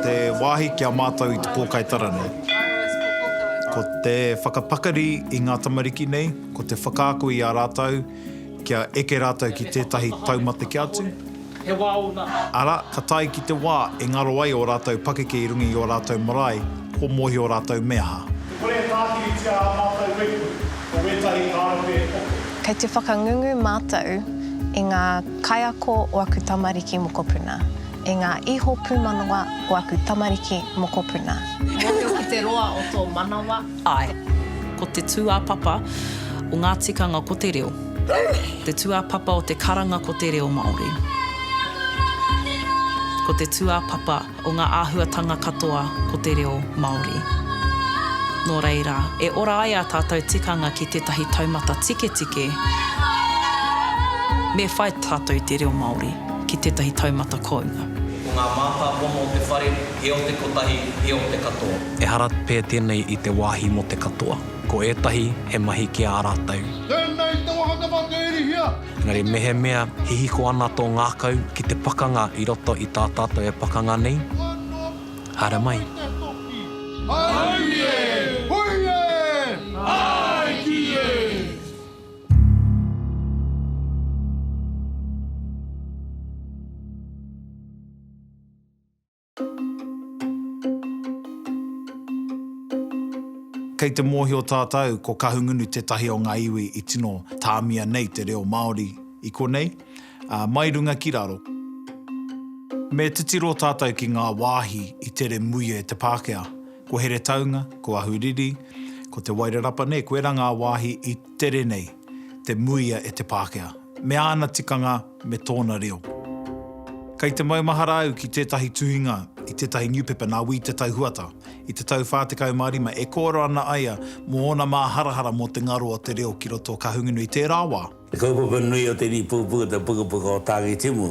Te wāhi ki a mātou i te pōkai tara nei. Ko te whakapakari i ngā tamariki nei, ko te whakaako i a rātou kia eke rātou ki tētahi taumata kē atu, He wā ōna. Arā, ka tae ki te wā e ngaro ai ō rātou pakeke i runga i ō rātou marae, kua mōhio rātou me aha. E kore e tākiritia ā mātou waipu, ko wētahi ka aro pea e Poke. Kei te whakangungu mātou i ngā kaiako o aku tamariki mokopuna, i ngā iho pūmanawa o aku tamariki mokopuna. Mōhio ki te roa o tō manawa. Āe. Ko te tūāpapa o ngā tikanga ko te reo. Te tūāpapa o te karanga ko te reo Māori. Ko te tūāpapa o ngā āhuatanga katoa ko te reo Māori. Nō reira, e ora ai ā tātou tikanga ki tētahi taumata tiketike, me whai tātou i te reo Māori ki tētahi taumata kounga. Ko ngā mātāpono o te whare, he o te kotahi, he o te katoa. Ehara pea tēnei i te wāhi mō te katoa. Ko ētahi, he mahi ki ā rātou. Tēnei te wāhanga mā te Irihia. Engari mehemea hihiko ana tō ngākau ki te pakanga i roto i tā tātou e pakanga nei, haere mai. Auie! Hui e! Āe ki e! Kei te mōhio tātou ko Kahungunu tētahi o ngā iwi i tino tāmia nei te reo Māori i konei, ā, mai runga ki raro. Me titiro tātou ki ngā wāhi i tere muia e te Pākehā. Ko Heretaunga, ko Ahuriri, ko Te Wairarapa, nē, koirā ngā wāhi i tere nei. te muia e te Pākehā, me āna tikanga, me tōna reo. Kei te maumahara au ki tētahi tuhinga i tētahi niupepa nā Wī Te Tai Huata i te tau 45 e kōrero ana aia mō ōna māharahara mō te ngaro o te reo ki roto o Kahungunu i tērā wā. Te kaupapa nui o te rīpūpū o te pukapuka o Tāngitimu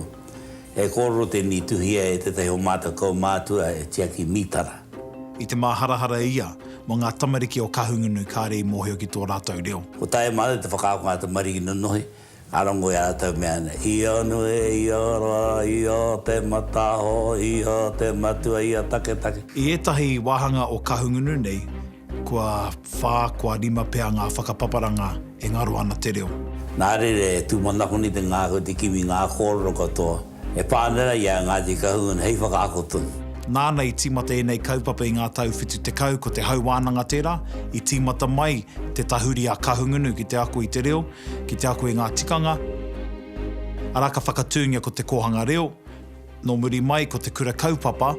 He kōrero tēnei i tuhia e tētahi o mātou kaumātua e tiaki mītara. I te māharahara e ia mō ngā tamariki o Kahungunu kāre i mōhio ki tō rātou reo. Ko tae mātou te whakaako ngā tamariki nonohi, ngā rongo i a rātou mea ana, i a nui, i a rā, i a te mataaho, i a te matua, i a taketake. I ētahi wāhanga o Kahungunu nei, Kua whā, kua rima pea ngā whakapaparanga e ngaro ana te reo. Nā reira e tūmanakoni te ngākau, te kimi, ngā kōrero katoa e pānera i a Ngāti Kahungunu hei whakaako tonu. Nāna i tīmata ēnei kaupapa i ngā tau whitu tekau, ko Te Hau Wānanga tērā, i tīmata mai te tahuri a Kahungunu ki te ako i te reo, ki te ako i ngā tikanga, arā ka whakatūngia ko Te Kōhanga Reo, Nō muri mai ko te kura kaupapa,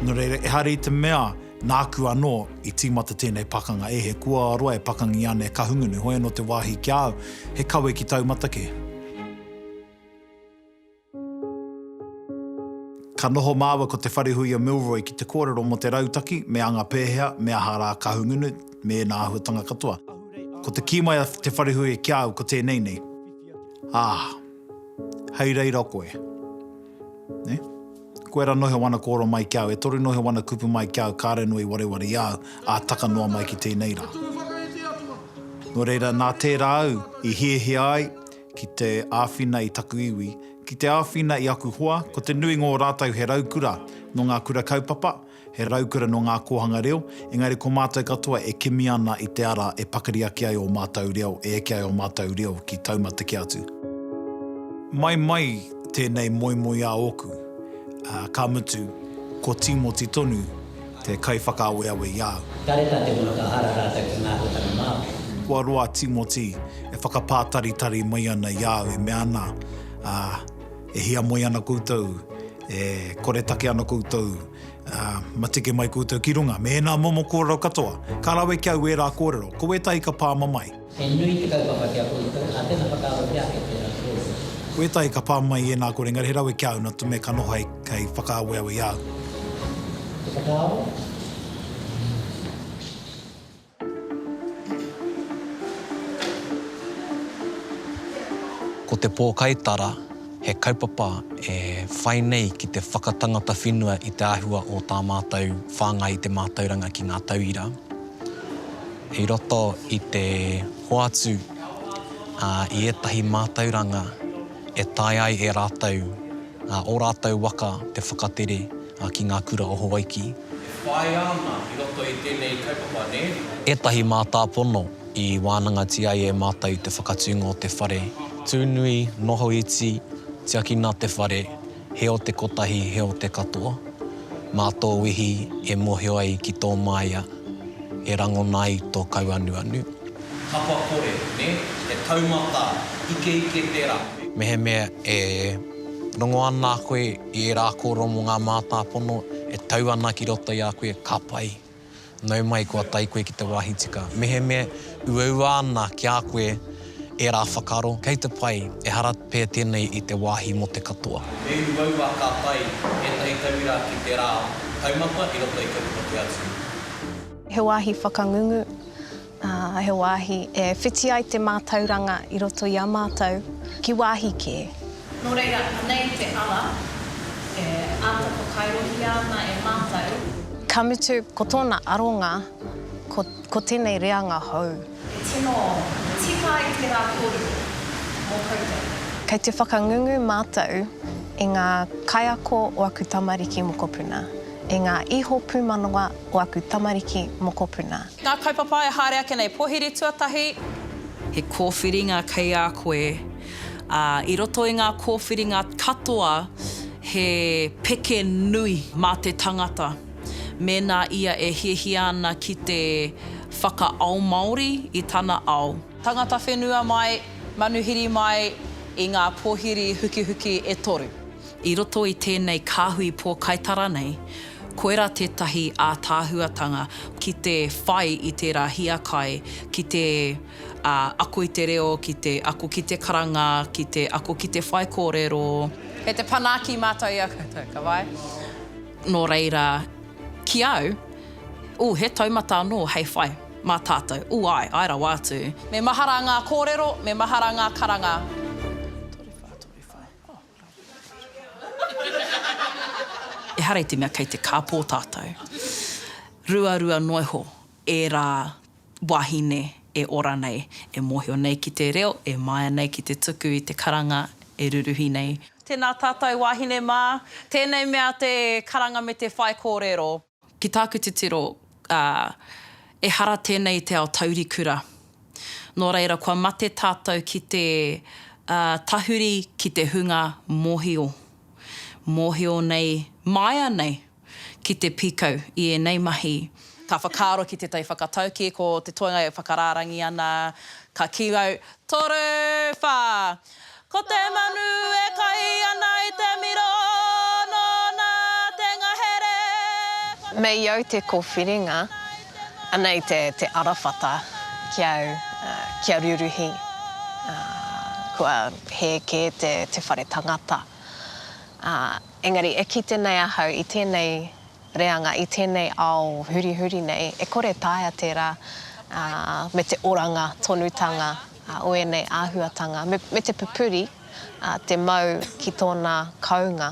nō reira ehara i te mea nāku anō i tīmata tēnei pakanga e he kua roa e pakangi ana e Kahungunu, hoi anō te wāhi ki a au, he kawe ki taumata kē. Ka noho māua ko Te Wharehuia Milroy ki te kōrero mō te rautaki, me anga pēhea, me aha rā Kahungunu, me ēnā āhuatanga katoa. Ko te kī mai a Te Wharehuia ki a au ko tēnei nei, Ā! hei reira koe. Ne? Koe ra noho wana koro mai ki au, e toru noho wana kupu mai ki au, kare noa i wareware i au, a taka noa mai ki tenei ra. No reira, na tera au i hiahia ai ki te awhina i taku iwi, ki te awhina i aku hoa, ko te nui ngo ratou he raukura no nga kura kaupapa, He raukura nō ngā kōhanga reo, engari ko mātou katoa e kimi ana i te ara e pakari ake ai ō mātou reo, e eke ai ō mātou reo ki taumatekē atu. Mai mai tēnei moemoeā ōku, ā, ka mutu, ko Tīmoti tonu te kaiwhakaaweawe i a au. Kāre tā te whakahara rātou ki ngā rōtana Māori. Kua roa a Tīmoti e whakapātaritari mai ana i a au e mea ana, ā, E hiamoe ana koutou, e koretake ana koutou, ā, matike mai koutou ki runga me ēnā momo kōrero katoa. Ka rawe ki au ērā kōrero, ko ētahi ka pāma mai. He nui te kaupapa ki a koutou, ā, tēnā whakaaro ki ake tērā kōrero. Ko ētahi ka pā mai i ēnā kōrero, engari he rawe ki a au nā te mea ka noho hei, hei whakaaweawe i a au. Te whakaaro. Ko te pōkaitara he kaupapa e whai nei ki te whakatangata whenua i te āhua o tā mātou whāngai i te mātauranga ki ngā tauira i roto i te hoatu i ētahi mātauranga e taea ai e rātou, ō rātou waka te whakatere. a ki nga kura o Hawaiki. E whaia ana i roto i tenei kaupapa ne? Etahi mātāpono i wānangatia ai e mātou i te whakatūnga o te whare, Tūnui, Noho Iti, Tiakina te whare, He o te kotahi, he o te katoa. Mā tō wehi e mohio ai ki tō māia, e rangona ai tō kauanuanu. Kapa kore, ne? He taumata, ikeike tera. Mehemea e rongo ana koe I ērā kōrero mō ngā mātāpono e tau ana ki roto i a koe, ka pai. Nau mai kua tae koe ki te wāhi tika. Mehemea uaua ana ki a koe ērā whakaaro, kei te pai, ehara pea tēnei i te wāhi mō te katoa. E uaua ka tae ētahi tauira ki te rā taumata i roto i te puta kē atu. He wāhi whakangungu. Ā, he wāhi e whiti ai te mātauranga i roto i a mātou, ki wāhi kē. Nō reira, anei te ara e āta whakairohia ana e mātou. Ka mutu, ko tōna aronga, ko, ko tēnei reanga hou. E tino tika ai tērā kōrero mō koutou. Kei te whakangungu mātou i ngā kaiako o aku tamariki mokopuna, i ngā iho pūmanawa o aku tamariki mokopuna. Ngā kaupapa e haere ake nei, Pohere Tuatahi. He kōwhiringa kei a koe, ā, i roto i ngā kōwhiringa katoa he peke nui mā te tangata mēnā ia e hiahia ana ki te whakaao Māori i tana ao. Tangata whenua mai, manuhiri mai i ngā pōhiri hukihuki e toru. I roto i tēnei kāhui pōkaitara nei, Koirā tētahi ātaahuatanga ki te whai i tērā hiakai ki te ako i te reo, ki te ako ki te karanga, ki te ako ki te whai kōrero. Kei te panaki mātou i a koutou, ka wai? Nō reira, ki au, ū, he taumata anō hei whai, mā tātou, ū, āe, āe rawa atu. Me mahara ngā kōrero, me mahara ngā karanga. Toru whā, toru whā, oh. Ehara i te mea kei te kāpō tātou. Ruarua noa iho ērā wāhine e ora nei, e mōhio nei ki te reo, e māia nei ki te tuku i te karanga e ruruhi nei. Tēnā tātou wāhine mā. Tēnei mea te karanga me te whaikōrero. Ki tāku titiro, ā, ehara tēnei i te ao taurikura. Nō reira, kua mate tātou ki te, ā, tahuri ki te hunga mōhio. Mōhio nei, māia nei ki te pīkau i ēnei mahi. Ka whakaaro ki tētahi whakataukī, ko te toenga e whakarārangi ana, ka kī au, Toru! Whā! Ko te manu e kai ana i te miro nōna te ngahere Ko te Mei au te kōwhiringa, anei te te arawhata ki au kia ruruhi kua hē kē te te whare tangata ā engari e kite nei ahau i tēnei reanga i tēnei ao hurihuri nei e kore taea tērā ā me te oranga tonutanga o ēnei āhuatanga, me te pupuri te mau ki tōna kounga,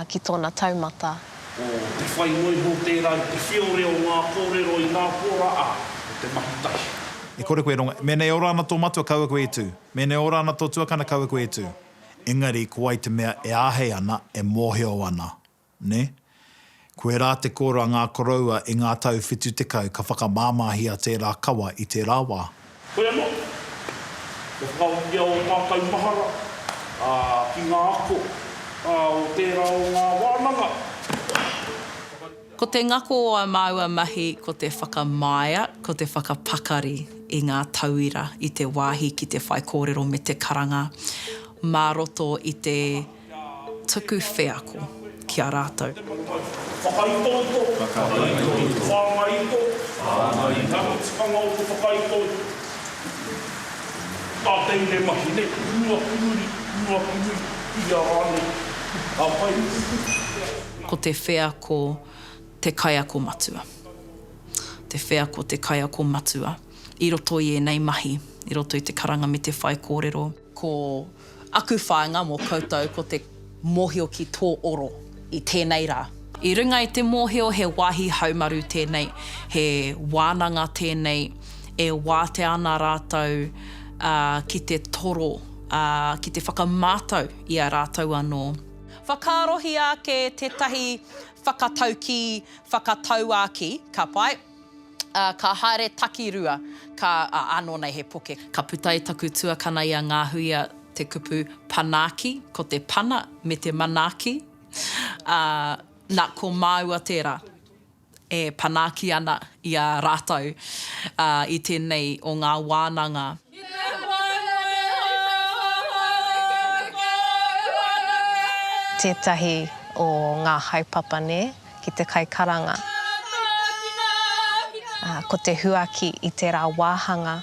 ki tōna taumata. Ko te whai noi mō tērā i te whiore o ngā kōrero i ngā pōra a, o te mahi tahi. E kore koe e rongo, mēnei ora ana tō matua kaua koe e tū, mēnei ora ana tō tuakana kaua koe e tū. Engari ko wai te mea e āhei ana, e mōhio ana. nē? Koe rā te kōrā ngā koroua i ngā tau whitu tekau ka whakamāmāhia tērā kawa i tērā wā. Koe anō. Kia whakahokia ō mātou mahara, ā, ki ngā ako, ā, o tērā o ngā wānanga. Whakatū. Ko te ngako o ā māua mahi ko te whakamāia, ko te whakapakari i ngā tauira i te wāhi ki te whaikōrero me te karanga mā roto i te. tuku wheako ki a rātou. Whakaitoto, whāngaito, ngaro tikanga o te whakaitoto. Nā tēnei mahi nei, rua pūri, rua pūri, ia rānei, ka pai. Ko te wheako te kaiako matua. Te wheako te kaiako matua i roto i ēnei mahi, i roto i te karanga me te whaikōrero. Ko aku whāinga mō koutou ko te mōhio ki tō oro i tēnei rā. I runga i te mōhio he wāhi haumaru tēnei, he wānanga tēnei e wātea ana rātou ki te toro, ki te whakamātau i a rātou anō. Whakaarohia ake tētahi whakataukī, whakatauākī, ka pai. Ā, ka haere takirua, ka, ā, ānō nei he poke. Ka puta e taku tuakana i a Ngāhuia te kupu Panaaki, ko te pana me te manaaki, ā, nā, ko māua tērā e panaaki ana i a rātou, ā, i tēnei o ngā wānanga. Tētahi o ngā haepapa nē ki te kaikaranga. Ko te huaki i tērā wāhanga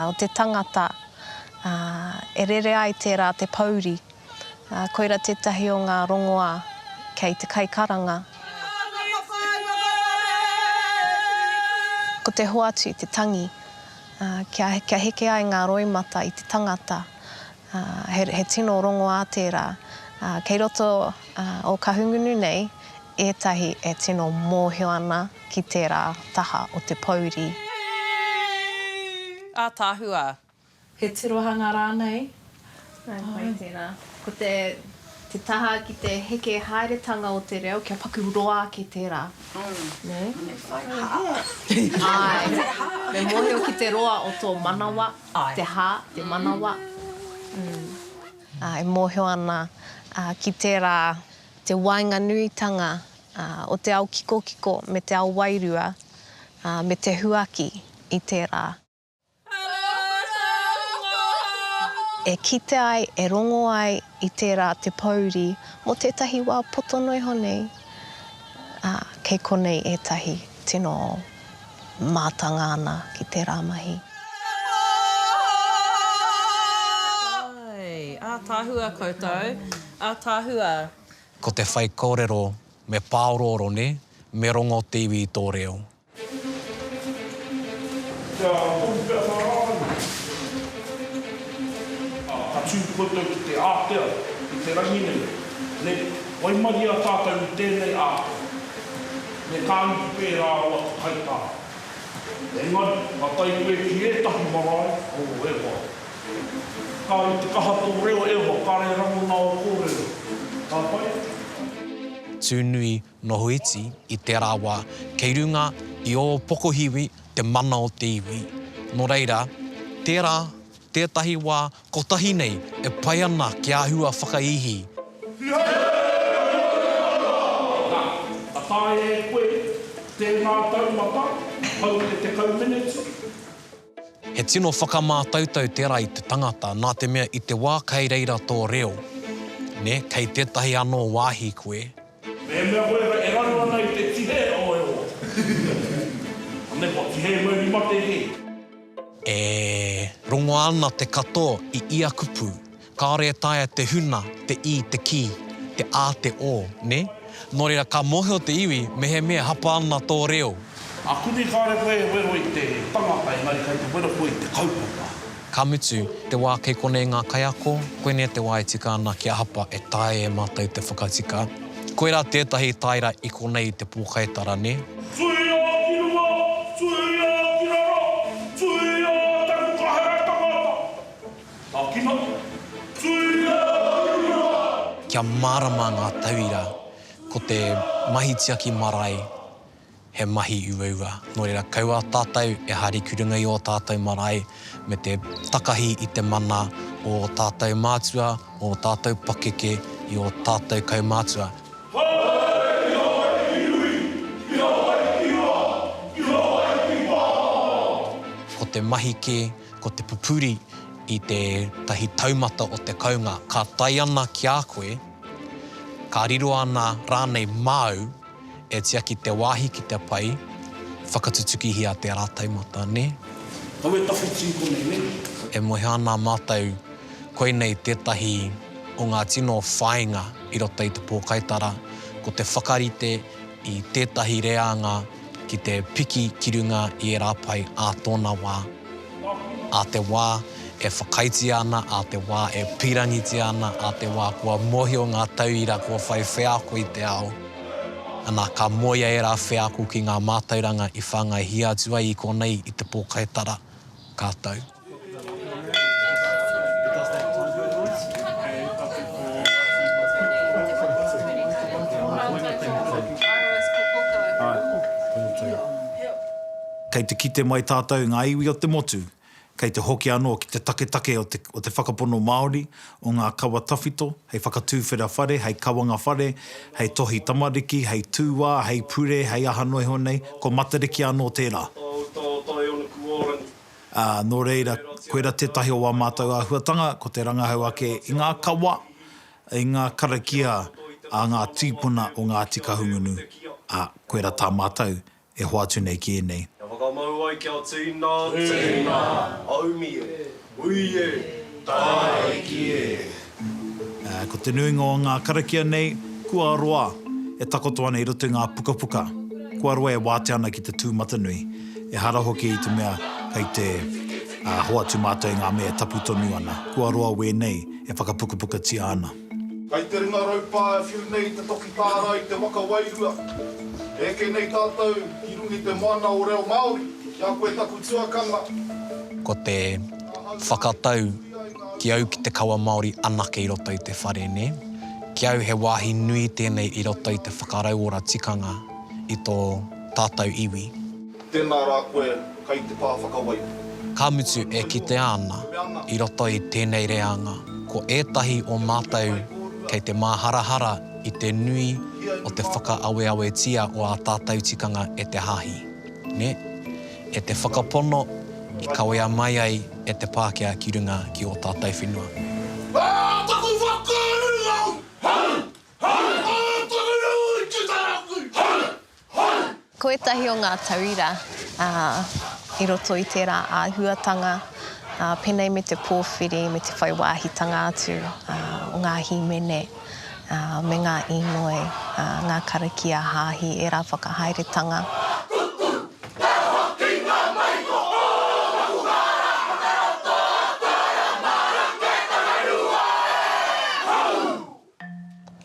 o te tangata e rere ai tērā te pouri. Koira tētahi o ngā rongoā kei te kaikaranga. Ko te hoatu te tangi. Kia, kia heke ai ngā roimata i te tangata, he, he tino rongoā tērā. Kei roto o Kahungunu nei ētahi e tino mōhio ana ki tērā taha o te pōuri. Ātaahua. He tirohanga rānei? Nā wai tērā. Ko te taha ki te heke haeretanga o te reo, kia paku roa ake tērā. Nē? Me whai hā. Āe. Me mōhio ki te roa o tō manawa, te hā, te manawa. E mōhio ana ki tērā te waenganuitanga o te ao kikokiko me te ao wairua me te huaki i tērā. E kite ai, e rongo ai i tērā te pōuri mō tētahi wā poto noa iho nei, ā, kei konei ētahi tino mātanga ana ki tērā mahi. Katoa e! Ātaahua koutou, ātaahua! Ko te whaikōrero, me pāorooro, nē? Me rongo te iwi i tō reo. Kia tohu pea ngā rārangi. Ā, ka tū koutou ki te ātea i te rangi nei, nē, waimaria tātou i tēnei ātea, me kā iwi pērā o aku kaitā. Engari, ka tae koe ki ētahi marae, o Ewa. Kāore te kaha tō reo, Ewa, kāre rangona ō kōrero. Ka pai? Tūnui, Noho iti i te rawa kei runga i ō pokohiwi te mana o te iwi. Nō reira, tērā tētahi wā kotahi nei e pai ana ki āhua whakaihī. Ka taea e koe tēnā taumata hou e tekau meneti. He tino whakamātautau tērā i te tangata nā te mea i te wā kei reira tō reo, nē, kei tētahi anō wāhi koe, Mehemea koe e raro ana i te tihe o e o. Ane kua tihe koe ki mate he. E rongoa ana te kato i ia kupu, kaore e taea te huna, te i, te ki, te a, te o, ne? No reira ka mohio te iwi mehemea hapa ana to reo. Akuni kaore koe e wero i te tangata engari kai te wero koe i te kaupapa. Ka mutu, te wā kei konei ngā kaiako, koinei te wā e tika ana kia hapa e taea e mātou te whakatika. Koirā tētahi tāera i konei i te pōkaitara, nē? Tuia ki runga, tuia ki raro, tuia taku kahere tangata. Takina, tuia ki runga. Kia mārama ngā tauira, ko te mahi tiaki marae. he mahi uaua. Nō reira, kaua tātou e haere ki runga i ō tātou marae me te takahi i te mana o ō tātou mātua, o ō tātou pakeke, i ō tātou kaumātua. Haere ki Hawaii ki Nui, ki Hawaii ki Hoa, ki Hawaii ki Wāhao! Ko te mahi kē, ko te pupuri i tētahi taumata o te kounga ka tae ana ki a koe, ka riro ana rānei māu. E tiaki te wāhi ki te pai, whakatutukihia te rātaumata, nē? Kawe tawhiti konei, nē? E moe ana mātou, koinei tētahi o ngā tino whāinga i roto i te pōkaitara, ko te whakarite i tētahi reanga ki te piki ki runga i ērā pae ā tōna wā. ā te wā e whakaaetia ana, ā te wā e pīrangitia ana, ā te wā kua mōhio ngā tauira kua whai wheako i te ao, ana, ka moea ērā wheako ki ngā mātauranga i whāngaihia atu ai i konei i te pōkai tara, ka tau. Kei te kite mai tātou i ngā iwi o te motu, kei te hoki anō ki te taketake o te o te whakapono Māori, o ngā kawa tawhito, hei whakatūwhera whare, hei kawanga whare, hei tohi tamariki, hei tūā, hei pure, hei aha noa iho nei, ko Matariki anō tērā. Ā, nō reira, koirā tētahi o ā mātou āhuatanga, ko te rangahau ake i ngā kawa, i ngā karakia a ngā tīpuna o Ngāti Kahungunu, ā, koirā tā mātou e hoatu nei ki ēnei. Kia whakamau ai kia tēnā, tēnā, aumi e, ui e, tāiki e. Ā, ko te nuinga o ngā karakia nei, kua roa, e takoto ana i roto i ngā pukapuka, kua roa e wātea ana ki te tūmatanui, ehara hoki i te mea kei te, ā, hoatu mātou i ngā mea e tapu tonu ana, kua roa wēnei e whakapukapukatia ana. Kai te ringa raupā e whiu nei te toki tāra i te waka wairua. E eke nei tātou ki runga i te moana o reo Māori, ki a koe taku tuakana. Ko te whakatau ki au ki te kawa Māori anake i roto i te whare, nē? Ki au he wāhi nui tēnei i roto i te whakarauora tikanga i tō tātou iwi. Tēnā rā koe kai te pā whakawai. Ka mutu e kitea ana, i roto i tēnei reanga, ko ētahi o mātou kei te māharahara i te nui o te whakaaweawetia o ā tātou tikanga e te Hāhi, nē? E te whakapono i kawea mai ai e te Pākehā ki runga ki ō tātou whenua. Ā taku whakauru au! Ā taku rū i te taraku! Ko ētahi o ngā tauira i roto i tērā āhuatanga, pēnei me te pōwhiri, me te whai wāhitanga atu o ngā hīmene me ngā īnoi, ngā karakia hāhi, ērā whakahaeretanga.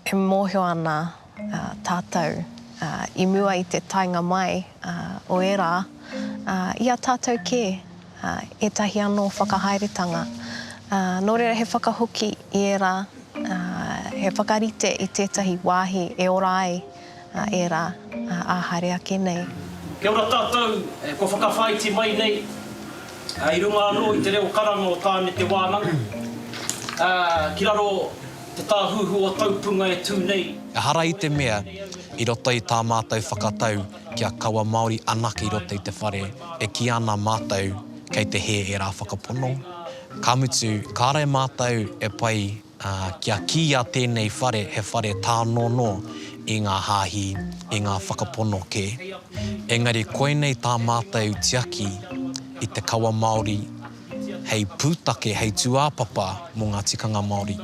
E mōhio ana tātou i mua i te taenga mai o ērā, i a tātou kē, ētahi anō whakahaeretanga. Nō reira he whakahoki i ērā, he whakarite i tētahi wāhi e ora ai. a ērā ā haere ake nei. Kia ora tātou, kua whakawhāiti mai nei i runga anō i te reo karanga o Tāne Te Wānanga ki raro te tāhuhu o Taupunga e tū nei. Ehara i te mea, i roto i tā mātou whakatau kia kaua Māori anake i roto i te whare, e kī ana mātou kei te hē ērā whakapono, ka mutu kāre mātou e pai Ā, kia kīia tēnei whare he whare tānono i ngā hāhi, i ngā whakapono kē. Engari koinei tā mātou tiaki i te kawa Māori hei pūtake, hei tūāpapa mō ngā tikanga Māori.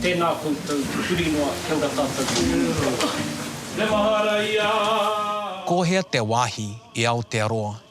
Tēnā koutou, huri noa, kia ora tātou ki te Motu Atu. Me mahara ia! Ko hea te wāhi i Aotearoa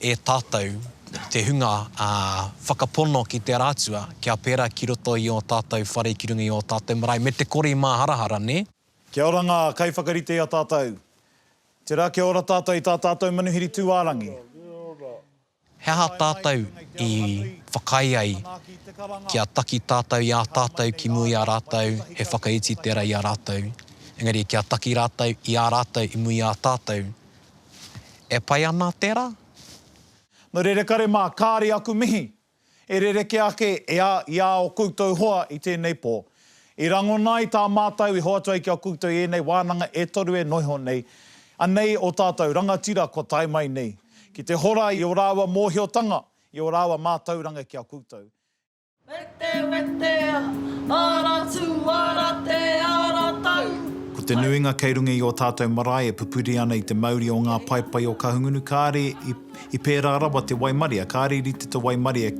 e tātou te hunga whakapono ki te ara atua, kia pērā ki roto i ō tātou whare ki runga i ō tātou marae, me te kore i māharahara, nē? Kia ora ngā kaiwhakarite i a tātou. Tērā kia ora tātou i tā tātou manuhiri tūārangi. He aha tātou i whakaae ai kia taki tātou i ā tātou ki mua i a rātou he whakaiti tērā i a rātou, engari kia taki rātou i a rātou i mua i a tātou? E pai ana te ra? No rerekare ma kaare aku mihi. E rereke ake e a i a o koutou hoa i tenei po. I rangona ai ta matou i hoatu ai ki a koutou enei wananga e toru e noiho nei anei o tatou rangatira kua tae mai nei ki te hora i o raua mohiotanga i o raua matauranga ki a koutou. Wete, wete, ara tū, ara te, ara tau. Ko te nuinga kei runga i ō tātou marae e pupuri ana i te mauri o ngā paepae o Kahungunu kāre i pērā rawa te waimaria, kāre i rite te waimaria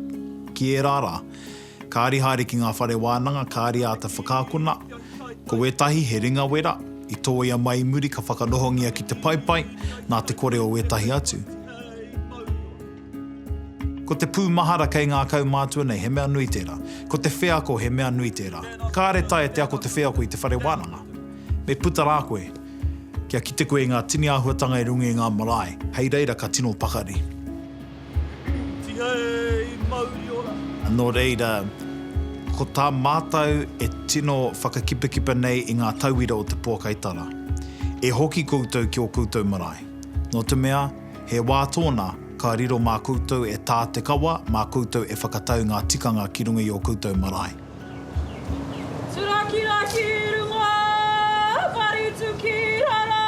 ki ērā rā. Kāre i haere ki ngā whare wānanga, kāre i āta whakaakona. Ko wētahi he ringa wera, i tōia mai i muri ka whakanohongia ki te paepae, nā te kore o wētahi atu. Ko te pūmahara kei ngā kaumātua nei, he mea nui tērā. Ko te wheako, he mea nui tērā. Kāre taea te ako te wheako i te whare wānanga. Me puta rā koe, kia kite koe i ngā tini āhuatanga i runga i ngā marae, hei reira ka tino pakari. Tihei mauri ora! Nō reira, ko tā mātou e tino whakakipakipa nei i ngā tauira o te Pōkai Tara, e hoki koutou ki ō koutou marae. Nō te mea, He wā tōna, ka riro mā koutou e tā te kawa, mā koutou e whakatau ngā tikanga ki runga i ō koutou marae. Turakira ki runga, Marutu ki rara,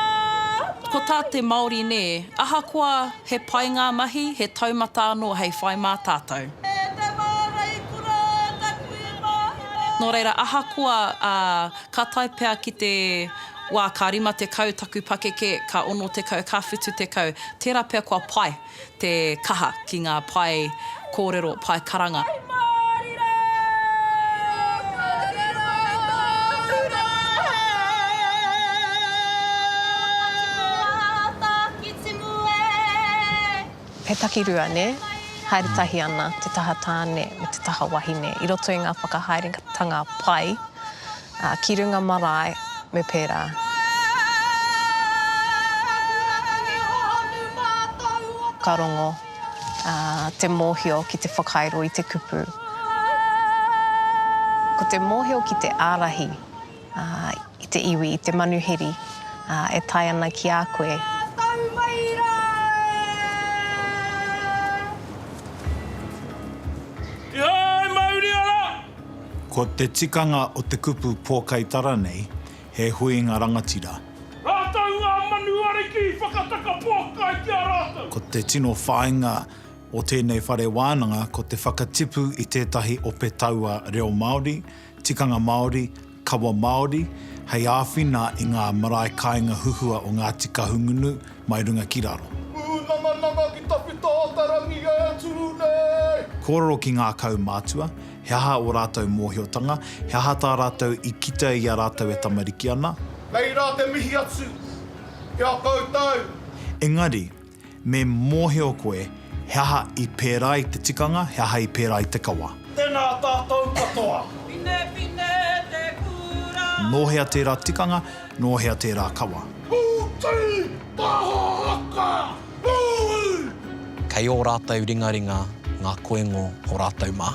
Marutu Ko tā te Māori nē, ahakoa he pai ngā mahi, he taumata anō hei whai mā tātou. He tama raikura taku i mahina. Nō reira, ahakoa, ā, ka tae pea ki te. Wā, ka rima tekau taku pakeke, ka ono tekau, ka whitu tekau. Tērā pea kua pai te kaha ki ngā pae kōrero, pae karanga. Hei Māori rā! Kōrero e tōku rā hei! Timu ā, timu ā, timu e! He takirua, nē? Haere tahi ana te taha tāne me te taha wahine i roto i ngā whakahaeretanga pai Ā, ki runga marae me pērā. Ka rongo te mōhio ki te whakairo i te kupu. Ko te mōhio ki te ārahi i te iwi, i te manuhiri e tae ana ki a koe. Kihai! Mauri ana! Ko te tikanga o te kupu pōkai tara nei, he huinga rangatira. Rātou ngā manu ariki i whakataka pōkai ki a rātou. Ko te tino whāinga o tēnei whare wānanga ko te whakatipu i tētahi ope taua reo Māori, tikanga Māori, kawa Māori, hei āwhina i ngā marae kāinga huhua o Ngāti Kahungunu mai runga ki raro. Pūnangananga ki tawhito o te rangi e tū nei. Kōrero ki ngā kaumātua, He aha ō rātou mōhiotanga? He aha tā rātou i kite i a rātou e tamariki ana? Kei rā te mihi atu ki a koutou. Engari, me mōhio koe he aha i pērā i te tikanga, he aha i pērā i te kawa. Tēnā tātou katoa. Pinepine te kura. Nō hea tērā tikanga, nō hea tērā kawa? Hūti taha haka! Kei ō rātou ringaringa ngā koengo o rātou mā.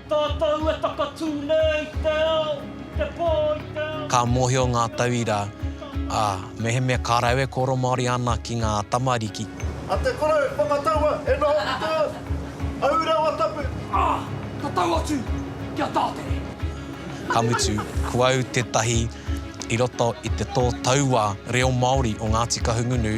Tātou e takatū nei i te ao, i te pō, i te ao. Ka mōhio ngā tauira, ā, mehemea ka rau e kōrero Māori ana ki ngā tamariki. A te korou whakataua e noho ki te ao, au rawa tapu. Ā, ka tau atu ki a Tātere. Ka mutu, ko au tētahi i roto i te tō taua reo Māori o Ngāti Kahungunu.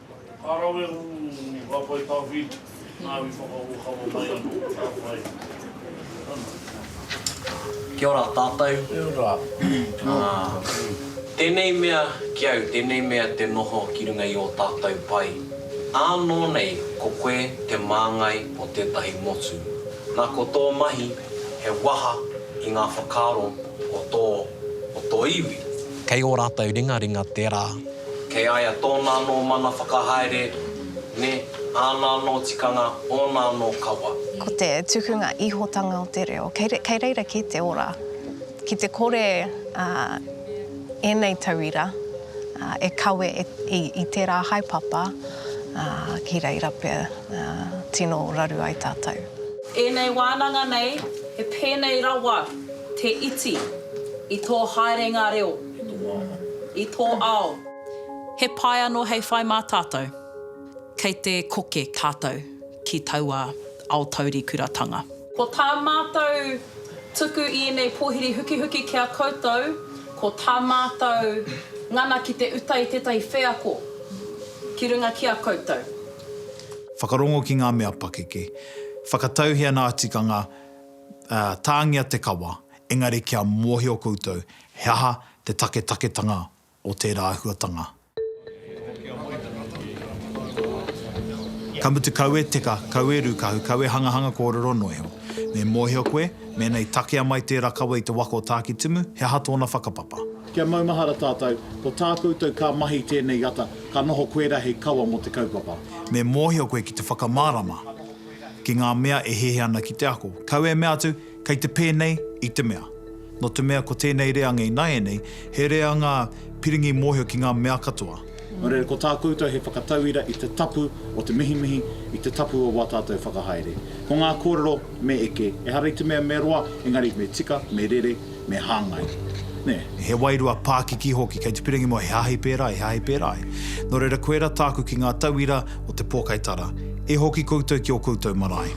Ka rawe ū ngā pae tāwhi, ngā wi whakaokawa mai anō, ka pai. Ana. Kia ora tātou. Kia ora. Tēnei mea ki au, tēnei mea te noho ki runga i ō tātou pae. Ānō nei ko koe te māngai o tētahi motu. Nā ko tō mahi he waha i ngā whakaaro o tō, o tō iwi. Kei ō rātou ringaringa tērā. Kei a ia tōna anō mana whakahaere, nē, āna anō tikanga, ōna anō kawa. Ko te tukunga ihotanga o te reo, kei reira kē te ora. Ki te kore ēnei tauira e kawe i tērā haepapa, ki reira pea tino raru ai tātou. Ēnei wānanga nei, he pēnei rawa. Te iti, i tō haerenga reo, i tō ao. He pai anō hei whai mā tātou. Kei te koke tātou ki taua ao taurikuratanga. Ko tā mātou tuku i ēnei pōhiri hukihuki ki a koutou, ko tā mātou ngana ki te uta i tētahi wheako ki runga ki a koutou. Whakarongo ki ngā mea pakeke. Whakatauhia nā tikanga. ā, tāngia te kawa, engari kia mōhio koutou he aha te taketaketanga o tērā āhuatanga. Ka mutu kau e teka, kau e rūkahu, kau e hangahanga kōrero noa iho. Me mōhio koe, mēnā i takea mai tērā kawa i te waka o Tākitimu, he aha tōna whakapapa. Kia maumahara tātou, ko tā koutou ka mahi tēnei ata, ka noho koirā hei kawa mō te kaupapa. Me mōhio koe ki te whakamārama. ki ngā mea e hehe ana ki te ako. Kau e mea atu, kei te pēnei i te mea. Nō te mea ko tēnei reanga ināianei, he reanga piringi mōhio ki ngā mea katoa. Nō reira, ko tā koutou he whakatauira i te tapu o te mihimihi, i te tapu o wā tātou whakahaere. Ko ngā kōrero, me eke, ehara i te mea me roa, engari me tika, me rere, me hāngai, nē. He wairua pākiki hoki, kei te pirangi mua he hāhi pērā, he hāhi pērā ai. Nō reira koirā tāku ki ngā tauira o te pōkai tara, e hoki koutou ki ō koutou marae.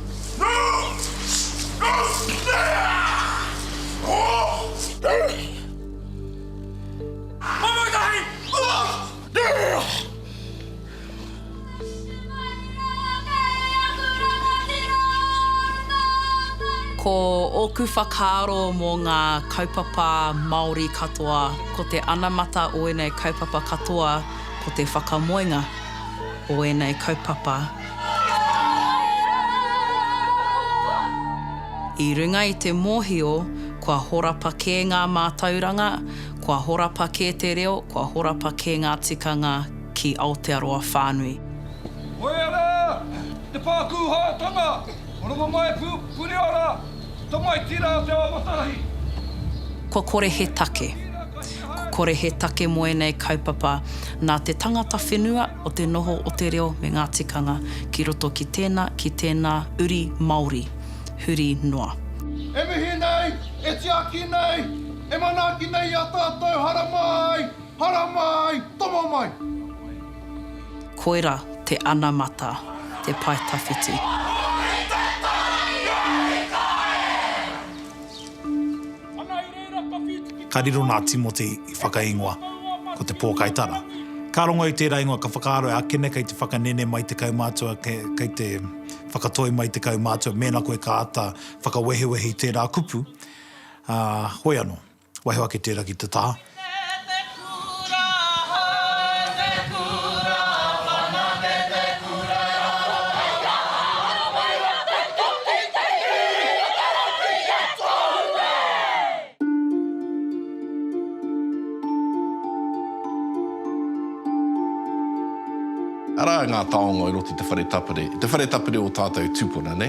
Ko ōku whakaaro mō ngā kaupapa Māori katoa, ko te anamata o ēnei kaupapa katoa, ko te whakamoenga o ēnei kaupapa i runga i te mōhio kua horapa kē ngā mātauranga, kua horapa kē te reo, kua horapa kē ngā tikanga, ki Aotearoa whānui. Hoea rā, te Pākūhātanga, Rongomai Puriora, tamaiti rā te awatāhi. Kua kore he take. Kua kore he take mo enei kaupapa nā te tangata whenua o te noho o te reo me ngā tikanga ki roto ki tēna, ki tēnā uri Māori huri noa. E mihi nei, e tiaki nei, e manaaki nei i a tātou haramā ai Hara mai! Tomo mai! Koira te anamata, te pae tawhiti. Ka riro nā Timoti i whakaingoa, ko te pōkaitara. Ka rongo i tērā ingoa, ka whakaaro e akene kei te whakanene mai te kaumātua, kei te whakatoi mai te kaumātua, mēnā koe ka āta whakawehewehe i tērā kupu, ā, hoi anō. Waiho ake tērā ki te taha. Arā ngā taonga i roto i te whare tapere, i te whare tapere o tātou tūpuna, nē?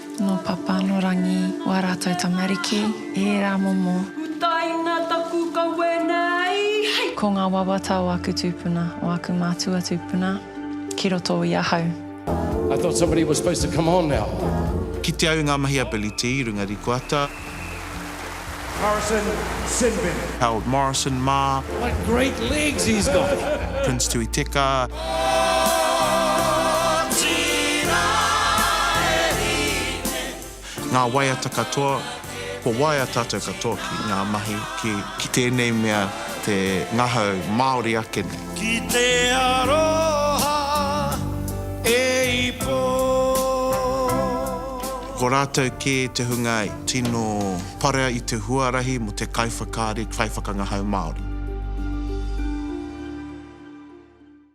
Nō Papa, nō Rangi, wā rātou tamariki, ērā momo. Utaina taku kawe nei, hei! Ko ngā wawata o aku tūpuna, o aku mātua tūpuna, ki roto i ahau. I thought somebody was supposed to come on now. Kite au i ngā mahi a Billy T i runga rikoata. Morrison Sinbin. Harold Morrison mā. What great legs he's got! Prince Tui Teka. Otirā e hine. Ngā waiata katoa, kua waea tātou katoa ki ngā mahi, ki. Ki tēnei mea te ngahau Māori ake nei. Ki te aroha e ipo. Ko rātou kē te hunga tino parea i te huarahi mō te kaiwhakaari, kaiwhakangahau Māori.